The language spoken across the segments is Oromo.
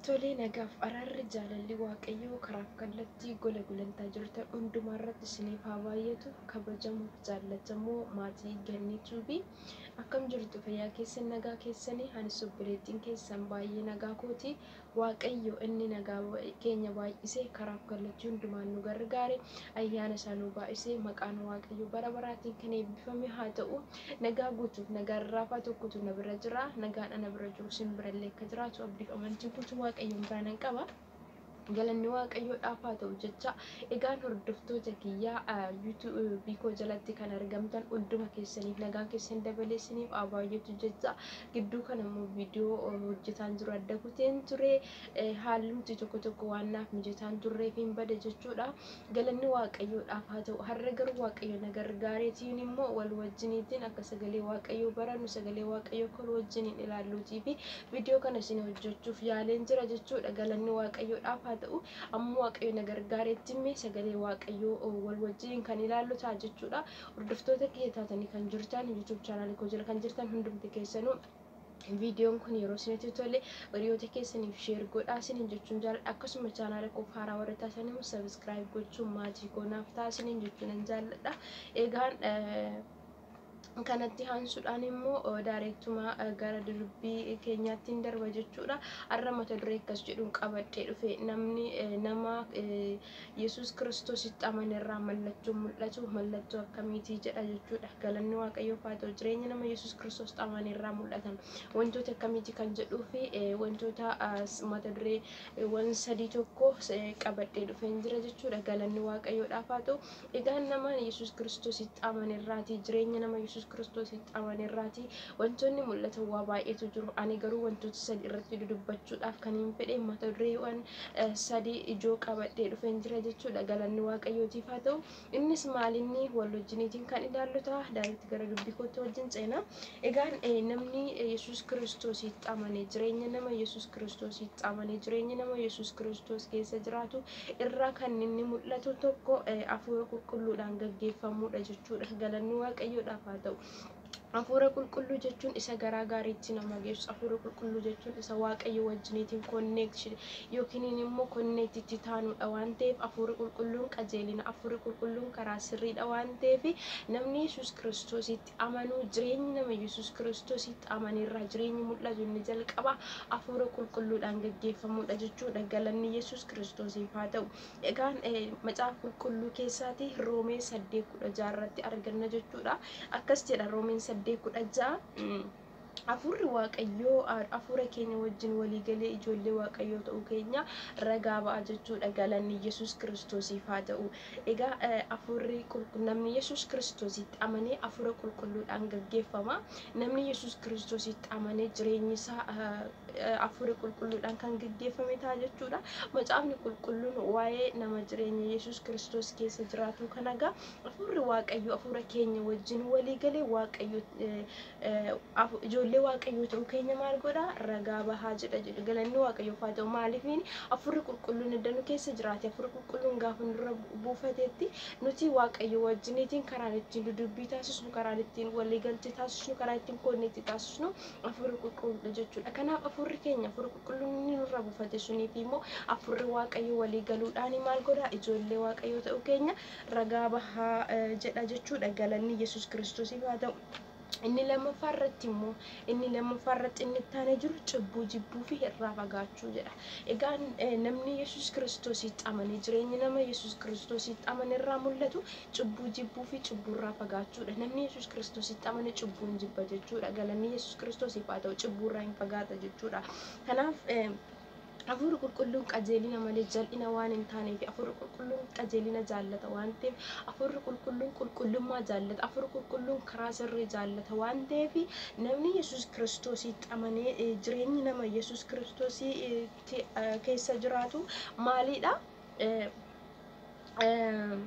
Tolee nagaaf araarri jaalalli waaqayyoo karaaf kallattii gola gulantaa jirtan hundumaa irratti isiniif haa baay'atu kabajamuuf jaallatamoo maatii gannii tuubii akkam jirtu fayyaa keessan nagaa keessanii anis obboleettiin keessan baay'ee nagaa kooti Waaqayyo inni nagaa keenya baay'isee karaaf kallachii hundumaan nu gargaare ayyaana isaa nuu baay'isee maqaan Waaqayyo bara baraatiin kan eebbifame haa ta'u nagaa guutuuf nagaa rarraafaa tokkotu na bira jira nagaan ana bira jiru sin birallee akka jiraatu abdiif amantii guutuu Waaqayyoon biraa nan qaba. galanni waaqayyoodhaaf haa ta'u jecha egaan hordoftoota kiyyaa yuutuubii koo jalatti kan argamtan hunduma keessaniif nagaan keessan dabalee isiniif haa baay'atu jecha gidduu kana immoo viidiyoo hojjetaan jiru adda kuteen ture haalumti tokko tokko waan naaf mijataan turreef hin bade jechuudha galanni waaqayyoodhaaf haa ta'u har'a garuu waaqayyo na gargaareetiin immoo wal wajjiniitiin akka sagalee waaqayyoo barannu sagalee waaqayyoo kol wajjiniin ilaalluutii fi viidiyoo kana isin hojjechuuf yaaleen jira jechuudha galanni waaqayyoodhaaf haa ta'u amma waaqayyo na gargaareetti mee sagalee waaqayyoo wal wajjiniin kan ilaallu ta'a jechuudha Hordoftoota kiyya taatanii kan jirtan YouTube channel koo jala kan jirtan hundumti keessanuu viidiyoon kun yeroo isinitti tole hiriyoota keessaniif sheer godhaa isiniin jechuun jaalladha akkasuma chaanaala koof haaraa warri taatan immoo sabiskiraayib gochuun maatii koo naaf ta'a isiniin jechuun nan jaalladha egaan kanatti haansuudhaan immoo daareektumaa gara dirbii keenyaatti hin darba jechuudha. Har'a mata duree akkas jedhuun qabadhee dhufe namni nama Yesuus Kiristoositti amanerraa mallattoon mul'atu mallattoo akkamiitii jedha jechuudha. Galanni Waaqayyoof haa ta'u jireenya nama Yesuus Kiristoositti amanerraa mul'atan wantoota akkamiitii kan jedhuu fi wantoota mata dureewwan sadii tokko qabadhee dhufeen jira jechuudha. Galanni Waaqayyoodhaaf haa ta'u Egaan nama Yesuus Kiristoositti amane irraati, jireenya nama Yesuus Kiristoositti amane irraati wantoonni mul'atan waa baay'eetu jiru. Ani garuu wantoota sadi irratti dudubbachuudhaaf kan hin fedhe mata dureewwan sadi ijoo qabadhee dhufeen jira jechuudha. Galanni Waaqayyootiif haa ta'u. Innis maalinni wal wajjiniitiin kan ilaallu ta'a. Daaritti gara dubbii kootti wajjin ceena. Egaan namni Yesuus Kiristoositti amane jireenya nama Yesuus Kiristoositti amane jireenya nama Yesuus Kiristoos keessa jiraatu irraa kan inni mul'atu tokko hafuura qulqulluudhaan gaggeeffamuudha jechuudha. Galanni Waaqayyoodhaaf haa ta'u. Hafuura qulqulluu jechuun isa garaa gaariitti nama geessu. Hafuura qulqulluu jechuun isa Waaqayyo wajjiniitiin konneekti yookiin immoo konneekti itti taanuudha waan ta'eef hafuurri qulqulluun qajeelina. Hafuurri qulqulluun karaa sirriidha waan ta'eef namni Yesuus Kiristoositti amanuu jireenyi nama Yesuus Kiristoositti amane irraa jireenyi mul'atu inni jalqaba afuura qulqulluudhaan gaggeeffamuudha jechuudha galanni Yesuus Kiristoosiif haa ta'u. Egaan macaafa qulqulluu keessaati Roomee 8:16 irratti arganna jechuudha. Akkas jedha Roomeen 8:16 Hafuurri Waaqayyoo hafuura keenya wajjin walii galee ijoollee Waaqayyoo ta'uu keenya ragaa ba'a jechuudha. Galanni Yesuus Kiristoosiif haa ta'u. Egaa hafuurri namni Yesuus Kiristoositti amanee hafuura qulqulluudhaan gaggeeffama. Namni Yesuus Kiristoositti amanee jireenyi isaa hafuura qulqulluudhaan kan gaggeeffame ta'a jechuudha. Macaafni qulqulluun waa'ee nama jireenya Yesuus Kiristoos keessa jiraatuu kana egaa hafuurri Waaqayyoo hafuura keenya wajjin walii galee Waaqayyo ijoollee waaqayyoo ta'uu keenya maal godha ragaa bahaa jedha jedhu galanni waaqayyoof haa ta'u maaliif hafuurri qulqulluun edda nu keessa jiraate hafuurri qulqulluun gaafa nurra buufatetti nuti waaqayyo wajjiniitiin karaan ittiin dudubbii taasisnu karaan ittiin waliigaltee taasisnu karaa ittiin koonneetti taasisnu hafuurri qulqulluudha jechuudha kanaaf hafuurri keenya hafuurri qulqulluun inni nurra buufate sunii fi immoo hafuurri waaqayyo walii galuudhaan maal godha ijoollee waaqayyoo ta'uu keenya ragaa bahaa jedha jechuudha galanni yesus kiristoosiif haa ta'u. Inni lammaffaa irratti immoo inni lammaffaa irratti inni itti aanee jiru cubbuu jibbuu fi irraa fagaachuu jedha. Egaa eh, namni Yesuus Kiristoositti amane jireenyi nama Yesuus Kiristoositti amane irraa mul'atu cubbuu jibbuu fi cubbuu irraa fagaachuudha. Namni Yesuus Kiristoositti amane cubbuu hin jibba jechuudha. Galanni Yesuus Kiristoosiif haa ta'u cubbuu irraa hin fagaata jechuudha. Kanaaf eh, Hafuurri qulqulluun qajeelina malee jal'ina waan hin taaneef hafuurri qulqulluun qajeelina jaallata waan ta'eef hafuurri qulqulluun qulqullummaa jaallata hafuurri qulqulluun karaa sirrii jaallata waan ta'eef namni yesus kiristoosiitti amanee eh, jireenyi nama yesus kiristoosiitti eh, keessa jiraatu maaliidha? eh, eh,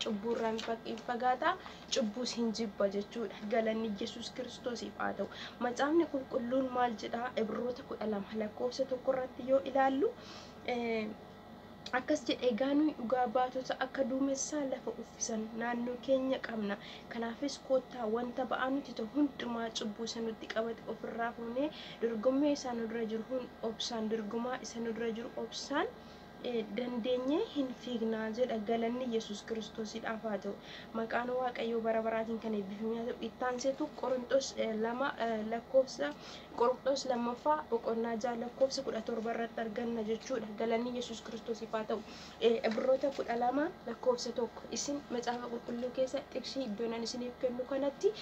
cubbuurraa hin fag- hin fagaata cubbuus hin jibba jechuudha galanni yesus kiristoosiif haa ta'u macaafni qulqulluun maal jedha ibroota kudha lama lakkoofsa tokko irratti yoo ilaallu eh, akkas jedhe egaa nuyi dhugaa baatota akka duumessaa lafa uffisan naannoo keenya qabna kanaafis koottaa wanta ba'aa nuti ta'u hundumaa cubbuu isa nutti qabate ofirraa fuunee Dorgommee isaa nu dura jiru hun obsaan dorgomaa isa nu dura jiru obsaan dandeenyee hin fiigna jedha galanni yesuus kiristoosidhaaf haa ta'u maqaan waaqayyoo bara baraatiin kan eebbifamee haa ta'u itti aanseetu qorinxoos 2 lakkoofsa qorinxoos lammaffaa boqonnaa 6 lakkoofsa 17 irratti arganna jechuudha galanni yesuus kiristoosiif haa ta'u ibroota 12 lakkoofsa 1 isin macaafa qulqulluu keessa xiqsii iddoonan isiniif kennu kanatti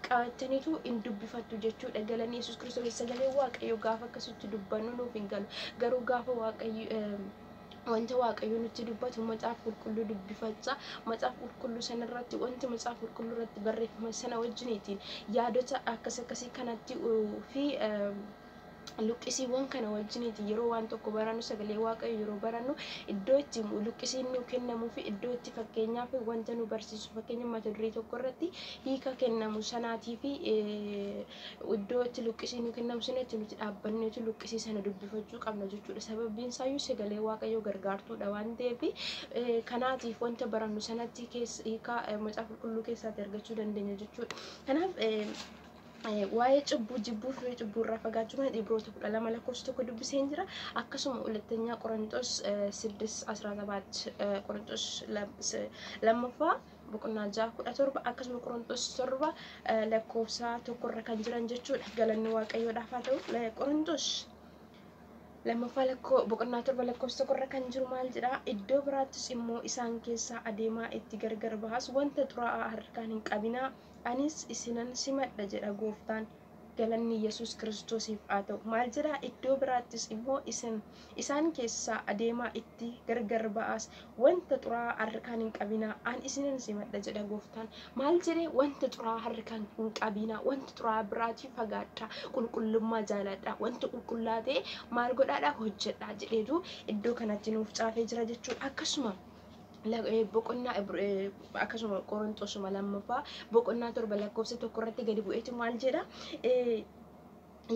qabattanitu in dubbifattu jechuudha. Galanni Yesuus Kiristoos sagalee Waaqayyoo gaafa akkasitti dubbannu nuuf hin galu. Garuu gaafa Waaqayyo wanta waaqayyo nutti dubbatu macaafa qulqulluu dubbifacha macaafa qulqulluu sana irratti wanti macaafa qulqulluu irratti barreeffame sana wajjiniitiin yaadota akkas akkasii kanatti fi luqqisiiwwan kana wajjiniiti yeroo waan tokko barannu sagalee waaqayyo yeroo barannu iddoo itti luqqisiin nuu kennamuu fi iddoo itti fakkeenyaaf wanta nu barsiisu fakkeenya mata duree tokko irratti hiika kennamu sanaatii fi iddoo itti luqqisiin nuu kennamu sana itti nuti dhaabbanneetu luqqisii sana dubbifachuu qabna jechuudha sababiin isaayyuu sagalee waaqayyo gargaartuudha waan ta'eef kanaatiif wanta barannu sanatti hiika macaafa qulqulluu keessaatti argachuu dandeenya jechuudha kanaaf waa'ee cubbuu jibbuu firii cubbuu irraa fagaachuu kana Ibroota 12 lakkoofsa tokko dubbiseen jira. Akkasuma hulattanyaa Qorontos 6:17 Qorontos lammaffaa boqonnaa 6:17 akkasuma Qorontos 7 lakkoofsa tokko irra kan jiran jechuudha. Galanni Waaqayyoodhaaf haa ta'u. Qorontos lammaffaa lakkoo boqonnaa torba lakkoofsa tokko irra kan jiru maal jedha iddoo biraattis immoo isaan keessaa adeemaa itti gargar bahas wanta xuraa'aa harkaan hin qabinaa Anis isinan simadha jedha Gooftaan. Galanni Yesuus Kiristoosiif haa ta'u. Maal jedhaa? Iddoo biraattis immoo isin isaan keessaa adeemaa itti gargar ba'aas wanta xuraa'aa harkaan hin qabinaa, an isinan simadha jedha Gooftaan. Maal jedhee? Wanta xuraa'aa harkaan hin qabinaa, wanta xuraa'aa biraatii fagaadhaa, qulqullummaa jaalaadhaa, wanta qulqullaa ta'e maal godhaadhaa? Hojjedhaa jedheetu iddoo kanatti nuuf caafee jira jechuudha. Akkasuma boqonnaa akkasuma qorontosuma lammaffaa boqonnaa torba lakkoofsa tokko irratti gadi bu'eetu maal jedha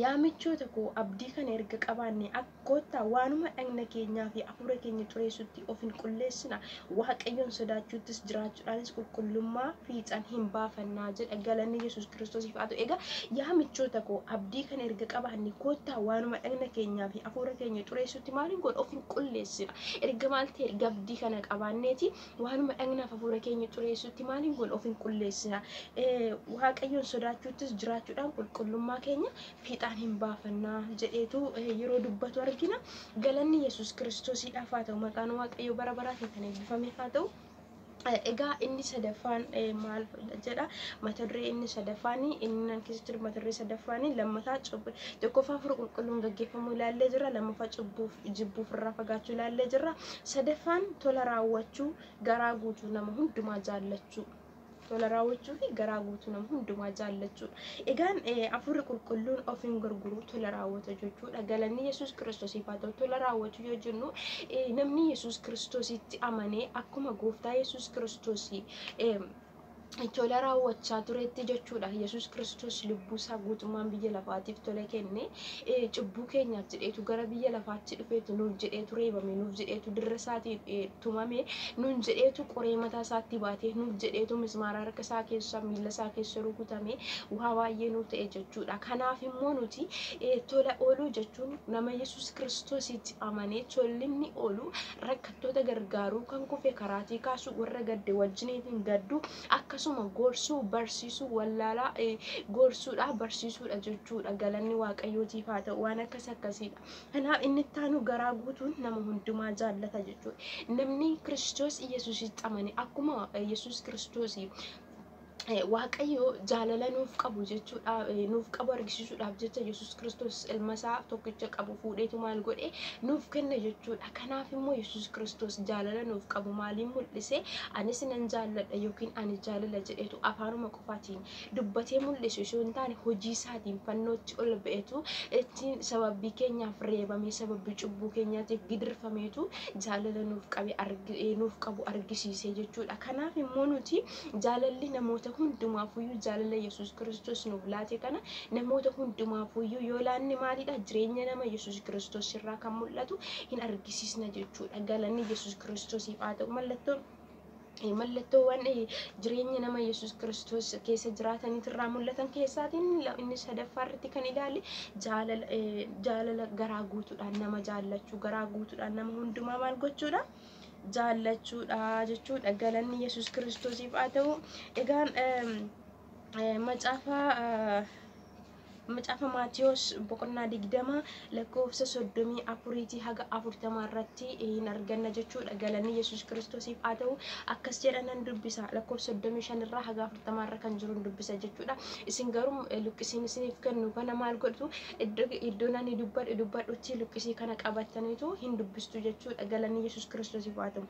yaa michoota koo abdii kana erga qabaanne akkoottaa waanuma dhagna keenyaa fi afuura keenya xureessutti of hin qulleessina waaqayyoon sodaachuuttis jiraachuudhaanis qulqullummaa fiixan hin baafannaa jedha galanni yesus kiristoosiif haa ta'u egaa yaa michoota koo abdii kana erga qabaanne koottaa waanuma dhagna keenyaa fi afuura keenya xureessutti maal hin godhu of hin qulleessina Erga maal ta'e erga abdii kana qabaanneeti waanuma dhagnaaf hafuura keenya xureessutti maal hin goona of hin qulleessina. Waaqayyoon sodaachuuttis jiraachuudhaan qulqullummaa keenya fiixaan hin baafanna jedheetu yeroo dubbatu argina. Galanni Yesuus Kiristoosiidhaaf haa ta'u maqaan Waaqayyoo bara baraatiin kan eebbifame haa ta'u. Egaa inni sadaffaan maal jedha mata duree inni sadaffaan inni nan keessa jiru mata duree sadaffaan lammataa cubbu tokkoffaa furu qulqulluun gaggeeffamuu ilaallee jirra lammaffaa cubbuuf jibbuuf irraa fagaachuu ilaallee jirra sadaffaan tola raawwachuu garaa guutuu nama hundumaa jaallachuu tola raawwachuu fi garaa guutuu nama hundumaa jaallachuudha. Egaan hafuurri qulqulluun of hin gurguru tola raawwata jechuudha. Galanni Yesuus Kiristoosiif haa ta'u tola raawwachuu yoo jennu namni Yesuus Kiristoositti amanee akkuma gooftaa Yesuus Kiristoosii tola raawwachaa turetti jechuudha. Yesuus Kiristoos lubbuu isaa guutummaan biyya lafaatiif tola kenne cubbuu keenyaaf jedheetu gara biyya lafaatti dhufeetu nuuf jedheetu reebame nuuf jedheetu dirra isaatiin tumame nun jedheetu qoree mataa isaatti baate nuuf jedheetu mismaara harka isaa keessa miila isaa keessa rukutame waa baay'ee nuuf ta'e jechuudha kanaaf immoo nuti eh, tola ooluu jechuun nama yesus kiristoositti amanee tollinni oolu rakkattoota gargaaruu kan kufe karaatii kaasuu warra gadde wajjiniitiin gadduu akkasuma gorsuu barsiisuu wallaalaa eh, gorsuudha barsiisuudha jechuudha galanni waaqayyootiif haa ta'u waan akkas akkasii Kanaaf inni itti aanu garaa guutuun nama hundumaa jaallata jechuudha. Namni Kiristoos Yesuusitti amane akkuma Yesuus Kiristoos Waaqayyo jaalala nuuf qabu jechuudha nuuf qabu argisiisuudhaaf jecha Yesuus Kiristoos ilma isaa tokkicha qabu fuudheetu maal godhe nuuf kenna jechuudha. Kanaaf immoo Yesuus Kiristoos jaalala nuuf qabu maaliin mul'ise anis nan jaalladha yookiin ani jaalala jedheetu afaanuma qofaatiin dubbatee mul'isu isuu hin taane hojii isaatiin fannootti ol ba'etu ittiin sababii keenyaaf reebamee sababii cubbuu keenyaatiif gidirfameetu jaalala nuuf qabe nuuf qabu argisiisee jechuudha. Kanaaf immoo nuti jaalalli namoota hundumaafuyyuu jaalala Yesuus Kiristoos nuuf laate kana namoota hundumaafuyyuu yoo laanne maalidha jireenya nama Yesuus Kiristoos irraa kan mul'atu hin argisiisna jechuudha. Galanni Yesuus Kiristoosiif haa ta'u mallattoon mallattoowwan jireenya nama Yesuus Kiristoos keessa jiraataniitu irraa mul'atan keessaatiin inni sadaffaa irratti kan ilaale jaalala garaa guutuudhaan nama jaallachuu garaa guutuudhaan nama hundumaa maal gochuudha jaallachuudha jechuudha galanni Yesuus Kiristoosiif haa ta'u egaan macaafa Macaafa Maatiyos boqonnaa 20 lakkoofsa 34 haga 40 irratti hin arganna jechuudha. Galanni Yesuus Kiristoosiif haa ta'u akkas jedha nan dubbisa lakkoofsa 35 irraa haga 40 irra kan jiru dubbisa jechuudha. Isin garuu luqqisiin isiniif kennu kana maal godhtu iddoon ani dubbadhu dubbadhutti luqqisii kana qabattaniitu hin dubbistu jechuudha. Galanni Yesuus Kiristoosiif haa ta'u.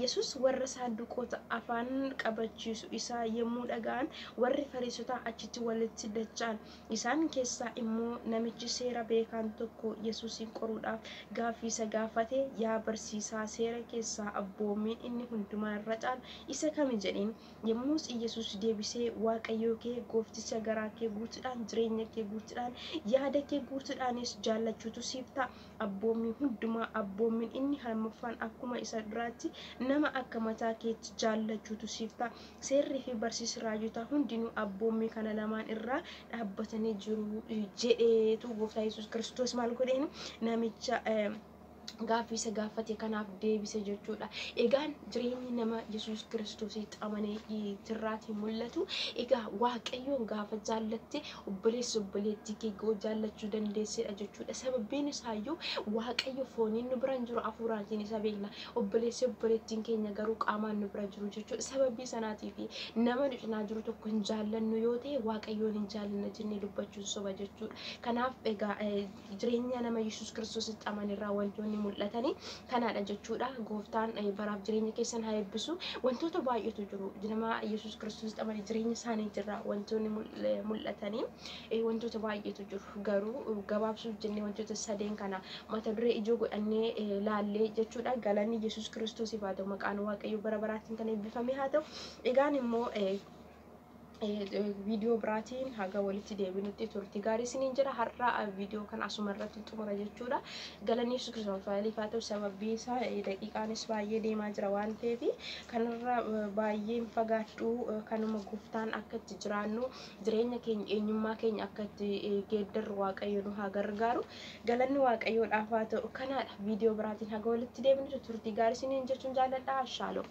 Yesus warra saanduqoota afaan qabachiisu isaa yommuu dhaga'an, warri Fariisotaa achitti walitti dacha'an. Isaan keessaa immoo namichi seera beekaan tokko Yesusiin qoruudhaaf gaaffii isa gaafate, Yaa barsiisaa, seera keessaa abboommiin inni hundumaa irra caalu isa kami? jedheen. Yommus Yesus deebisee, Waaqayyo kee goofticha garaa kee guutuudhaan, jireenya kee guutuudhaan, yaada kee guutuudhaanis jaallachuutu siif ta'a. abboommii hundumaa abboommin inni harmaffaan akkuma isa duraatti nama akka mataa keetti jaallachuutu siif ta'a. Seerrii fi barsiisi raajotaa hundinuu abboommii kana lamaan irraa dhaabbatanii jiru jedheetu gooftaa Yesuus Kiristoos maal godheenu namicha gaaffii isa gaafate kanaaf deebise jechuudha. Egaan jireenyi nama Yesuus Kiristoositti amanee tirraatii mul'atu egaa Waaqayyoon gaafa jaallatte Obboleessa obboleettii kee ga'u jaallachuu dandeesseedha jechuudha. Sababiin isaayyuu Waaqayyo fooniin nu bira hin jiru hafuuraatiin isa beekna. Obboleessi obboleettiin keenya garuu qaamaan nu bira jiru jechuudha. Sababii sanaatiif nama nu cinaa jiru tokko hin jaallannu yoo ta'e Waaqayyoon hin jaallanna jennee dubbachuun soba jechuudha. Kanaaf egaa Jireenyaa nama Yesuus Kiristoositti amane irraa wantoonni mul'atani kanaadha jechuudha. Gooftaan baraaf jireenya keessan haa eebbisu. Wantoota baay'eetu jiru. Nama Yesuus Kiristoositti amane jireenya isaanii jirra wantoonni mul'atani wantoota baay'eetu jiru. Garuu gabaabsuuf jennee wantoota sadeen kana mata duree ijoo godhannee laallee jechuudha. Galanni Yesuus Kiristoosiif haa ta'u maqaan Waaqayyoo bara baraattiin kan eebbifame haa ta'u. Egaan immoo viidiyoo biraatiin haga walitti deebinutti turti gaarii isiniin jedha har'a viidiyoo kan asuma irratti xumura jechuudha galanni yesus kiristoos faayiliif haa ta'u sababii isaa daqiiqaanis baay'ee deemaa jira waan ta'eef kanarra baay'een fagaadhu kanuma gooftaan akka itti jiraannu jireenya keenya eenyummaa keenya akka itti geeddarru waaqayyo nu haa gargaaru Galanni Waaqayyoodhaaf haa ta'u kanaadha. Viidiyoo biraatiin haga walitti deebinutti turtii gaarii isiniin jechuun jaalladha. Shaaloom.